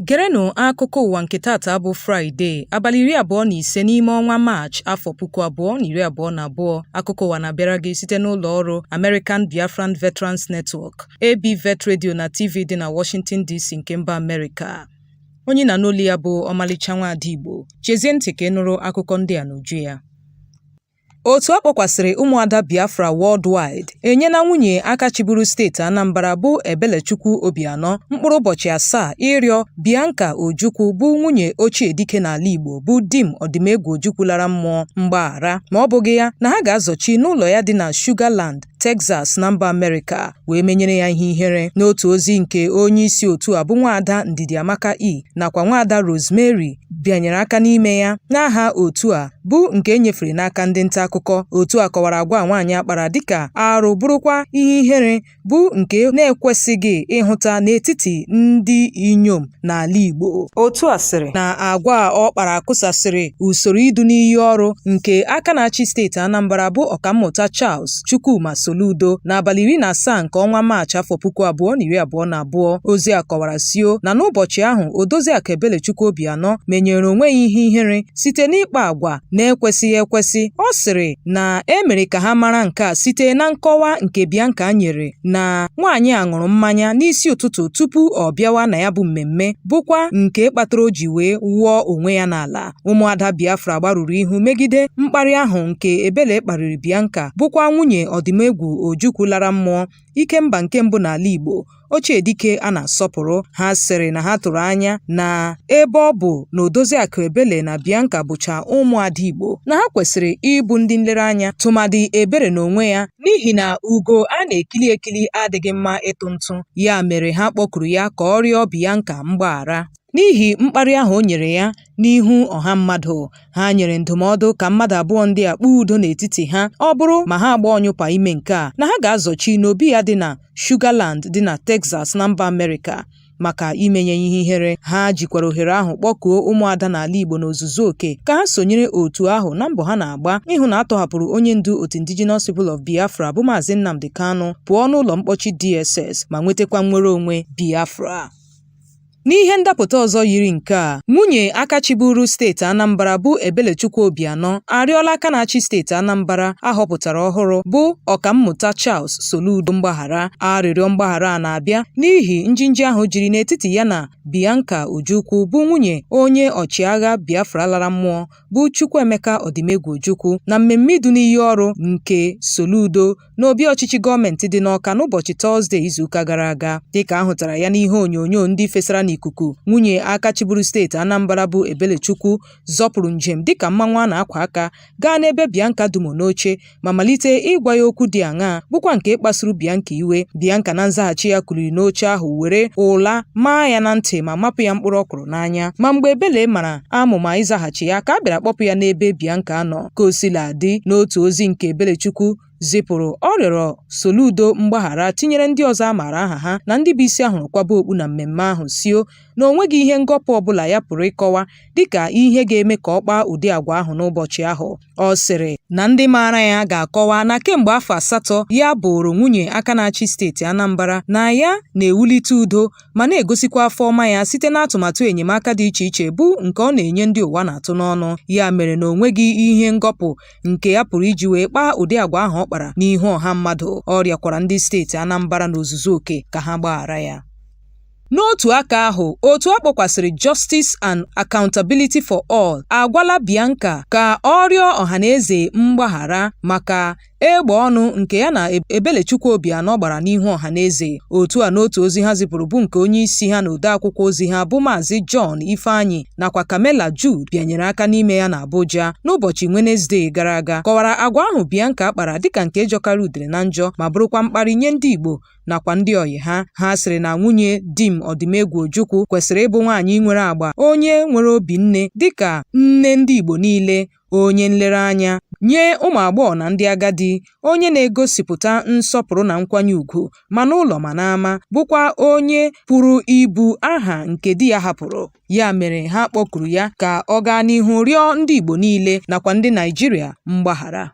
Gerenụ akụkọ ụwa nke tata bụ Fraịde, abalị iri abụọ na ise n'ime ọnwa Maachị, afọ puku abụọ na iri abụọ na abụọ. Akụkọ ụwa na-abịara gị site n'ụlọ ọrụ American Biafran Veterans Network, ABVET Radio na TV dị na Washington DC nke mba Amerịka. onye ị na-anụ olu ya bụ ọmalịcha nwaada Igbo chezie ntị ka ị nụrụ akụkọ ndị a n'uju ya otu a kpọkwasịrị ụmụada Biafra worldwide enyela nwunye aka chịburu steeti Anambra bụ Ebelechukwu Obianọ mkpụrụ ụbọchị asaa ịrịọ Bianca Ojukwu bụ nwunye ochie dike n'ala Igbo bụ Dim Ọdịmegwu Ojukwu lara mmụọ mgbaghara ma ọ bụghị ya na ha ga-azọchi n'ụlọ ya dị na Sugarland Texas na mba Amerịka wee menyere ya ihe ihere n'otu ozi nke onye isi otu a bụ nwaada Ndidi Amaka E nakwa nwaada Rosemary bịanyere aka n'ime ya n'aha otu a bụ nke e nyefere n'aka ndị nta akụkọ otu a kọwara agwa nwaanyị a kpara dịka arụ bụrụkwa ihe ihere bụ nke na-ekwesịghị ịhụta n'etiti ndị inyom n'ala Igbo otu a sịrị na agwa a ọ kpara kụsasịrị usoro idu n'iyi ọrụ nke aka na-achị steeti Anambra bụ ọkammụta Charles Chukwuma Soludo n'abalị iri na asaa nke ọnwa Maachị afọ puku abụọ na iri abụọ na abụọ ozi a kọwara sio na n'ụbọchị ahụ Odoziakụ Ebelechukwu Obianọ menyere onwe ya ihe ihere site n'ịkpa agwa na-ekwesịghị ekwesị ọ sịrị na e mere ka ha mara nke a site na nkọwa nke Bianca nyere na nwaanyị a ṅụrụ mmanya n'isi ụtụtụ tupu ọ bịawa na ya bụ mmemme bụkwa nke kpatara o ji wee wụọ onwe ya n'ala ụmụada Biafra gbarụrụ ihu megide mkparị ahụ nke Ebele kparịrị Bianca bụkwa nwunye Ọdịmegwu Ojukwu lara mmụọ Ikemba nke mbụ n'ala Igbo ochie dike a na-asọpụrụ ha sịrị na ha tụrụ anya na ebe ọ bụ na Odoziakụ Ebele na Bianca bụcha ụmụada Igbo na ha kwesịrị ịbụ ndị nlereanya tụmadị Ebere n'onwe ya n'ihi na ugo a na-ekili ekili adịghị mma ịtụ ntụ ya mere ha kpọkuru ya ka ọ rịọ Bianca mgbaghara n'ihi mkparị ahụ o nyere ya n'ihu ọha mmadụ ha nyere ndụmọdụ ka mmadụ abụọ ndị a kpaa udo n'etiti ha ọ bụrụ ma ha agba ọnyụpa ime nke a na ha ga-azọchi n'obi ya dị na Sugarland dị na Texas na mba Amerịka maka imenye ya ihe ihere ha jikwara ohere ahụ kpọkuo ụmụada n'ala Igbo n'ozuzu oke ka ha sonyere otu ahụ na mbọ ha na-agba ịhụ na a tọhapụrụ onye ndu otu Indigenous People of Biafra bụ Maazị Nnamdi Kanu pụọ n'ụlọ mkpọchi DSS ma nwetakwa nnwere onwe Biafra n'ihe ndapụta ọzọ yiri nke a nwunye aka chịburu steeti Anambra bụ Ebelechukwu Obianọ arịọla aka na-achị steeti Anambra a họpụtara ọhụrụ bụ Ọkammụta Charles Soludo mgbaghara. Arịrịọ mgbaghara a na-abịa n'ihi njinji ahụ jiri n'etiti ya na Bianca Ojukwu bụ nwunye onye ọchịagha Biafra lara mmụọ bụ Chukwuemeka Ọdịmegwu Ojukwu na mmemme idu n'iyi ọrụ nke Soludo n'obi ọchịchị gọọmentị dị n'Ọka n'ụbọchị Tọzde izuụka gara aga. Dịka a hụtara ya n'ihe onyonyo ndị fesara n'ikuku, nwunye aka chịburu steeti Anambra bụ Ebelechukwu zọpụrụ njem dịka mmanwụ a na-akwa aka gaa n'ebe Bianca dumo n'oche ma malite ịgwa ya okwu dị aṅaa bụkwa nke kpasuru Bianca iwe Bianca na nzaghachi ya kuliri n'oche ahụ were ụla maa ya na ntị ma mapụ ya mkpụrụ ọkwụrụ n'anya ma mgbe Ebele mara amụma ịzaghachi ya ka a bịara kpọpụ ya n'ebe Bianca nọ ka o sila dị n'otu ozi nke Ebelechukwu zipụrụ ọ rịọrọ Soludo mgbaghara tinyere ndị ọzọ a maara aha ha na ndị bụ isi a hụrụ kwaba okpu na mmemme ahụ sio na o nweghị ihe ngọpụ ọbụla ya pụrụ ịkọwa dịka ihe ga-eme ka ọ kpaa ụdị agwa ahụ n'ụbọchị ahụ ọ sịrị na ndị maara ya ga-akọwa na kemgbe afọ asatọ ya bụụrụ nwunye aka na-achị steeti Anambra na ya na-ewulite udo ma na-egosikwa afọ ọma ya site n'atụmatụ enyemaka dị iche iche bụ nke ọ na-enye ndị ụwa na-atụ n'ọnụ ya mere na o nweghị ihe ngọpụ nke ya pụrụ iji wee kpaa ụdị agwa ahụ ọ kpara n'ihu ọha mmadụ ọ rịọkwara ndị steeti Anambra n'ozuzu oke ka ha gbaghara ya N'otu aka ahụ, otu a kpọkwasịrị Justice and Accountability for All agwala Bianca ka ọ rịọ ọhaneze mgbaghara maka egbe ọnụ nke ya na Ebelechukwu Obianọ gbara n'ihu ọhaneze. Otu a n'otu ozi ha zipụrụ bụ nke onye isi ha na odeakwụkwọ ozi ha bụ Maazị John Ifeanyi nakwa Kamela Jude bịanyere aka n'ime ya n'Abuja n'ụbọchị Wenezdee gara aga kọwara agwa ahụ Bianca kpara dịka nke jọkara udere na njọ ma bụrụkwa mkparị nye ndị Igbo nakwa ndị ọyị ha ha sịrị na nwunye Dim Ọdịmegwu Ojukwu kwesịrị ịbụ nwaanyị nwere agba onye nwere obi nne dịka nne ndị Igbo niile onye nlereanya nye ụmụ agbọghọ na ndị agadi, onye na-egosipụta nsọpụrụ na nkwanye ugwu ma n'ụlọ ma n'ama, bụkwa onye pụrụ ibu aha nke di ya hapụrụ. Ya mere ha kpọkuru ya ka ọ gaa n'ihu rịọ ndị Igbo niile nakwa ndị Naịjirịa mgbaghara.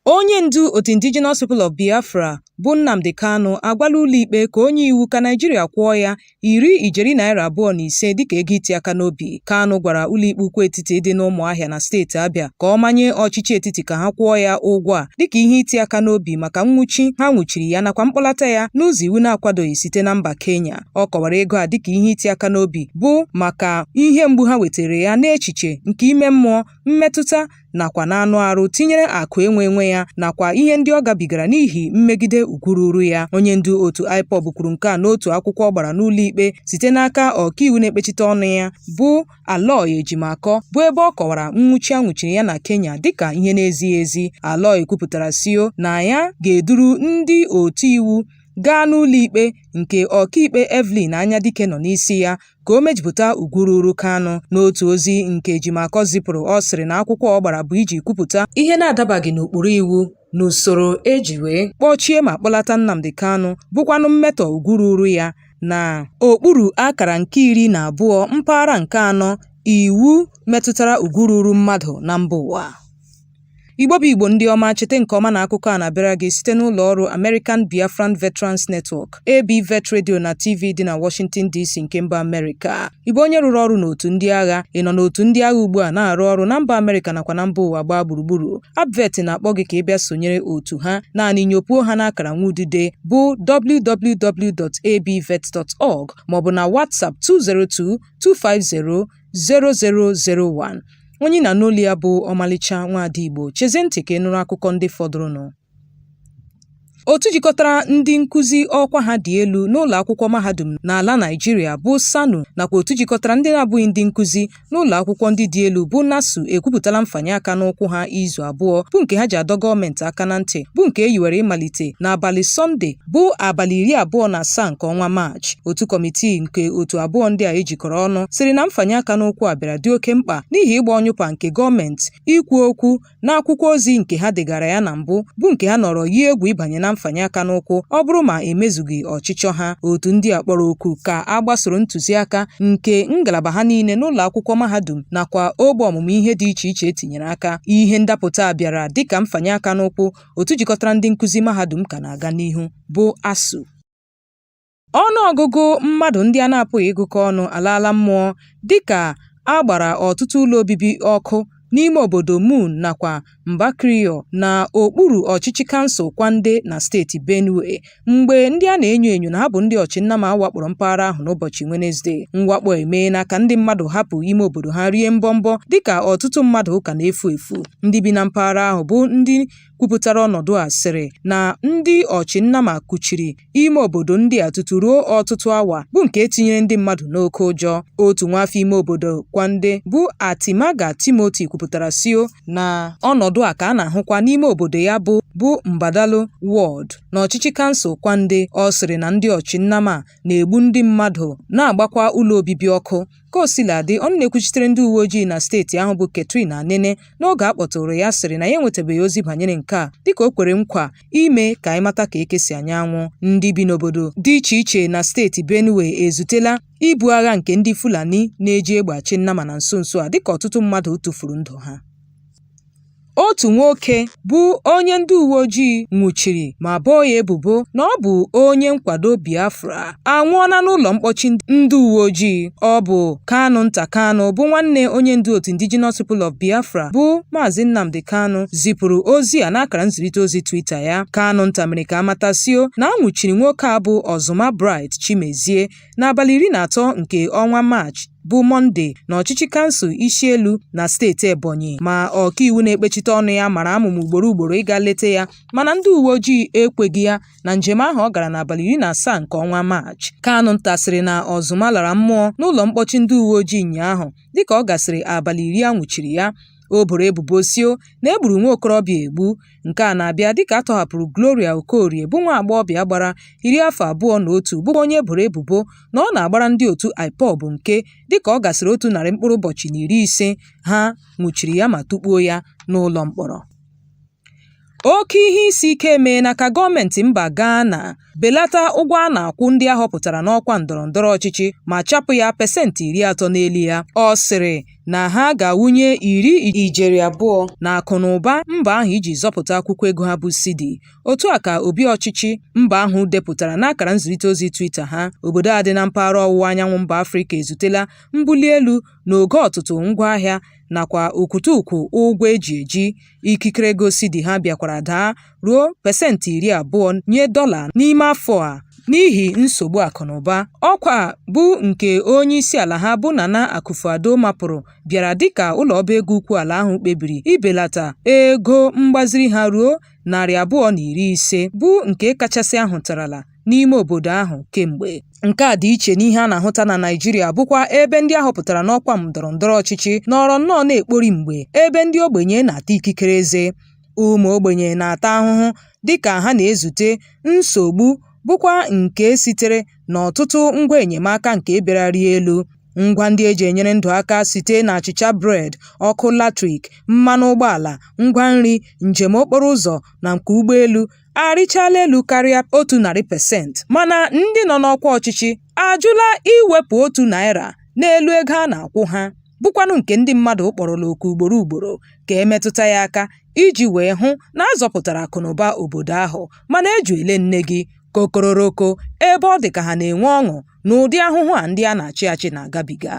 Onye ndu otu Indigenous People of Biafra bụ Nnamdi Kanu agwala ụlọikpe ka o nye iwu ka Naịjirịa kwụọ ya iri ijeri naira abụọ na ise dịka ego iti aka n'obi. Kanu gwara ụlọikpe ukwu etiti dị n'Ụmụahịa na steeti Abịa ka ọ manye ọchịchị etiti ka ha kwụọ ya ụgwọ a dịka ihe iti aka n'obi maka nnwụchi ha nwụchiri ya nakwa mkpọlata ya n'ụzọ iwu na-akwadoghị site na mba Kenya. Ọ kọwara ego a dịka ihe iti aka n'obi bụ maka ihe mgbu ha wetara ya n'echiche nke ime mmụọ, mmetụta nakwa n'anụ arụ tinyere akụ enwe enwe ya nakwa ihe ndị ọ gabigara n'ihi mmegide ugwu ruru ya onye ndu otu IPOB kwuru nke a n'otu akwụkwọ ọ gbara n'ụlọikpe site n'aka ọkaiwu na-ekpechite ọnụ ya bụ Aloy Ejimakọ bụ ebe ọ kọwara nwụchi a nwụchiri ya na Kenya dịka ihe na-ezighị ezi Aloy kwupụtara sio na ya ga-eduru ndị otu iwu gaa n'ụlọikpe nke ọkaikpe Evelyn Anyadike nọ n'isi ya ka o mejupụta ugwu ruuru Kanu. N'otu ozi nke Ejimakor zipụrụ, ọ sịrị na akwụkwọ ọ gbara bụ iji kwupụta ihe na-adabaghị n'ụkpụrụ iwu n'usoro e ji wee kpọchie ma kpọlata Nnamdi Kanu bụkwanụ mmetọ ugwu ruuru ya na okpuru akara nke iri na abụọ mpaghara nke anọ iwu metụtara ugwu ruuru mmadụ na mba ụwa. Igbo bụ Igbo ndị ọma chete nke ọma na akụkọ a na-abịara gị site n'ụlọ ọrụ American Biafran Veterans Network ABVET Radio na TV dị na Washington DC nke mba Amerịka ị bụ onye rụrụ ọrụ n'otu ndị agha ị nọ n'otu ndị agha ugbu a na-arụ ọrụ na mba Amerịka nakwa na mba ụwa gbaa gburugburu ABVET na-akpọ gị ka ị bịa sonyere otu ha naanị nyopuo ha n'akara nwa udide bụ www.abvet.org maọbụ na WhatsApp 202 250 0001 onye ị na-anụ olu ya bụ ọmalịcha nwaada Igbo chezie ntị ka ị nụrụ akụkọ ndị fọdụrụnụ otu jikọtara ndị nkụzi ọkwa ha dị elu n'ụlọ akwụkwọ mahadum n'ala Naịjirịa bụ SSANU nakwa otu jikọtara ndị na-abụghị ndị nkụzi n'ụlọ akwụkwọ ndị dị elu bụ NASU ekwupụtala mfanye aka n'ụkwụ ha izu abụọ bụ nke ha ji adọ gọọmenti aka na ntị bụ nke e yiwere ịmalite n'abalị Sọnde bụ abalị iri abụọ na asaa nke ọnwa Maachị. Otu kọmitii nke otu abụọ ndị a ejikọrọ ọnụ sịrị na mfanye aka n'ụkwụ a bịara dị oke mkpa n'ihi ịgba ọnyụpa nke gọọmenti ikwu okwu n'akwụkwọ ozi nke ha degara ya na mbụ bụ nke ha nọrọ yie egwu ịbanye na mfanye aka n'ụkwụ ọ bụrụ ma emezughị ọchịchọ ha. Otu ndị a kpọrọ oku ka a gbasoro ntụziaka nke ngalaba ha niile n'ụlọ akwụkwọ mahadum nakwa ogbe ọmụmụ ihe dị iche iche etinyere aka. Ihe ndapụta a bịara dịka mfanye aka n'ụkwụ otu jikọtara ndị nkụzi mahadum ka na-aga n'ihu bụ ASUU. Ọnụ ọgụgụ mmadụ ndị a na-apụghị ịgụkọ ọnụ alaala mmụọ dịka a gbara ọtụtụ ụlọ obibi ọkụ n'ime obodo Moon nakwa Mbakriyo na okpuru ọchịchị kansụl Kwande na steeti Benue mgbe ndị a na-enyo enyo na ha bụ ndị ọchịnnama wakporo mpaghara ahụ n'ụbọchị Wenezde mwakpo emeela ka ndị mmadụ hapụ ime obodo ha rie mbọmbọ dịka ọtụtụ mmadụ ka na-efu efu ndị bi na mpaghara ahụ bụ ndị kwupụtara ọnọdụ a sịrị na ndị ọchịnnama kuchiri ime obodo ndị a tutu ruo ọtụtụ awa bụ nke tinyere ndị mmadụ n'oke ụjọ otu nwaafọ ime obodo Kwande bụ Atimaga Timothy kwupụtara sio na ọnọdụ a ka a na-ahụkwa n'ime obodo ya bụ bụ Mbadalo wọd n'ọchịchị kansụl Kwande ọ sịrị na ndị ọchị nnama na-egbu ndị mmadụ na-agbakwa ụlọ obibi ọkụ ka o sila dị ọnụ na-ekwuchitere ndị uwe ojii na steeti ahụ bụ Catherine Anene n'oge a kpọtụrụ ya sịrị na ya enwetabeghị ozi banyere nke a dịka o kwere nkwa ime ka anyị mata ka eke si anya anwụ ndị bi n'obodo dị iche iche na steeti Benue ezutela ibu agha nke ndị Fulani na-eji egbe achị nnama na nso nso a dịka ọtụtụ mmadụ tụfuru ndụ ha Otu nwoke bụ onye ndị uwe ojii nwụchiri ma boo ya ebubo na ọ bụ onye nkwado Biafra anwụọla n'ụlọ mkpọchi ndị uwe ojii. Ọ bụ Kanunta Kanu bụ nwanne onye ndu otu Indigenous People of Biafra bụ Maazị Nnamdi Kanu zipụrụ ozi a n'akara nzirịta ozi Twitter ya. Kanunta mere ka a mata sio na a nwụchiri nwoke a bụ Ọzụma Bright Chimezie N'abalị iri na atọ nke ọnwa Maachị bụ Mọnde n'ọchịchị kansụl Ishielu na steeti Ebonyi ma ọkaiwu na-ekpechite ọnụ ya mara amụma ugboro ugboro ịga leta ya mana ndị uwe ojii ekweghị ya na njem ahụ ọ gara n'abalị iri na asaa nke ọnwa Maachị. Kanunta sịrị na Ọzụma lara mmụọ n'ụlọ mkpọchi ndị uwe ojii ụnyaahụ dịka ọ gasịrị abalị iri a nwụchiri ya. O boro ebubo sio na e gburu nwa okorobịa egbu. Nke a na-abịa dịka a tọhapụrụ Gloria Okorie bụ nwa agbọghọbịa gbara iri afọ abụọ na otu bụkwa onye e boro ebubo na ọ na-agbara ndị otu IPOB nke dịka ọ gasịrị otu narị mkpụrụ ụbọchị na iri ise ha nwụchiri ya ma tukpuo ya n'ụlọ mkpọrọ. Oke ihe isi ike emeela ka gọọmentị mba Ghana belata ụgwọ a na-akwụ ndị a họpụtara n'ọkwa ndọrọndọrọ ọchịchị ma chapụ ya pasentị iri atọ n'elu ya. Ọ sịrị na ha ga-awụnye iri ijeri abụọ n'akụnaụba mba ahụ iji zọpụta akwụkwọ ego ha bụ Cedi. Otu a ka obi ọchịchị mba ahụ depụtara n'akara nzirịta ozi Twitter ha. Obodo a dị na mpaghara ọwụwa anyanwụ mba Afrịka ezutela mbuli elu n'ogo ọtụtụ ngwaahịa nakwa okwutukwu ụgwọ e ji eji. ikikere ego Cedi ha bịakwara daa ruo pasentị iri abụọ nye dọla n'ime afọ a n'ihi nsogbu akụnụba. Ọkwa a bụ nke onye isi ala ha bụ Nana Akufo-Addo mapụrụ bịara dịka ụlọ ọba ego ukwu ala ahụ kpebiri ibelata ego mgbaziri ha ruo narị abụọ na iri ise, bụ nke kachasị a hụtarala. n'ime obodo ahụ kemgbe. Nke a dị iche n'ihe a na-ahụta na Naịjirịa bụkwa ebe ndị a họpụtara n'ọkwa ndọrọndọrọ ọchịchị nọrọ nnọọ na-ekpori mgbe ebe ndị ogbenye na-ata ikikere eze. Ụmụ ogbenye na-ata ahụhụ dịka ha na-ezute nsogbu bụkwa nke sitere n'ọtụtụ ngwa enyemaka nke bịara rịa elu. Ngwa ndị e ji enyere ndụ aka site n'achịcha bred, ọkụ latrik, mmanụ ụgbọala, ngwa nri, njem okporo ụzọ na nke ụgbọelu arịchala elu karịa otu narị pesenti mana ndị nọ n'ọkwa ọchịchị ajụla iwepụ otu naira n'elu ego a na-akwụ ha bụkwanụ nke ndị mmadụ kpọrọla oku ugboro ugboro ka e metụta ya aka iji wee hụ na a zọpụtara akụnụba obodo ahụ mana eju ele nne gị kokororoko ebe ọ dị ka ha na-enwe ọṅụ n'ụdị ahụhụ a ndị a na-achị achị na-agabiga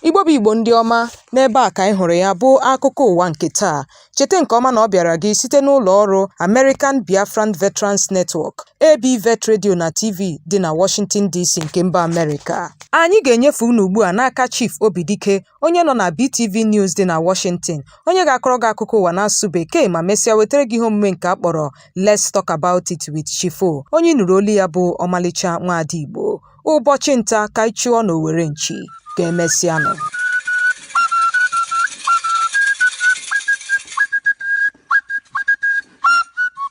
Igbo bụ Igbo ndị ọma, n'ebe a ka anyị hụrụ ya bụ akụkọ ụwa nke taa. Cheta nke ọma na ọ bịara gị site n'ụlọ ọrụ American Biafran Veterans Network, ABVET Radio na TV dị na Washington DC nke mba Amerịka. Anyị ga-enyefe unu ugbu a n'aka Chief Obidike, onye nọ na BTV News dị na Washington, onye ga-akọrọ gị akụkọ ụwa n'asụsụ Bekee ma mesịa wetara gị ihe omume nke a kpọrọ Let's Talk About It with Chief O, onye ị nụrụ olu ya bụ ọmalịcha nwaada Igbo. ụbọchị nta ka anyị chụọ n'owere nchi ka emesịanụ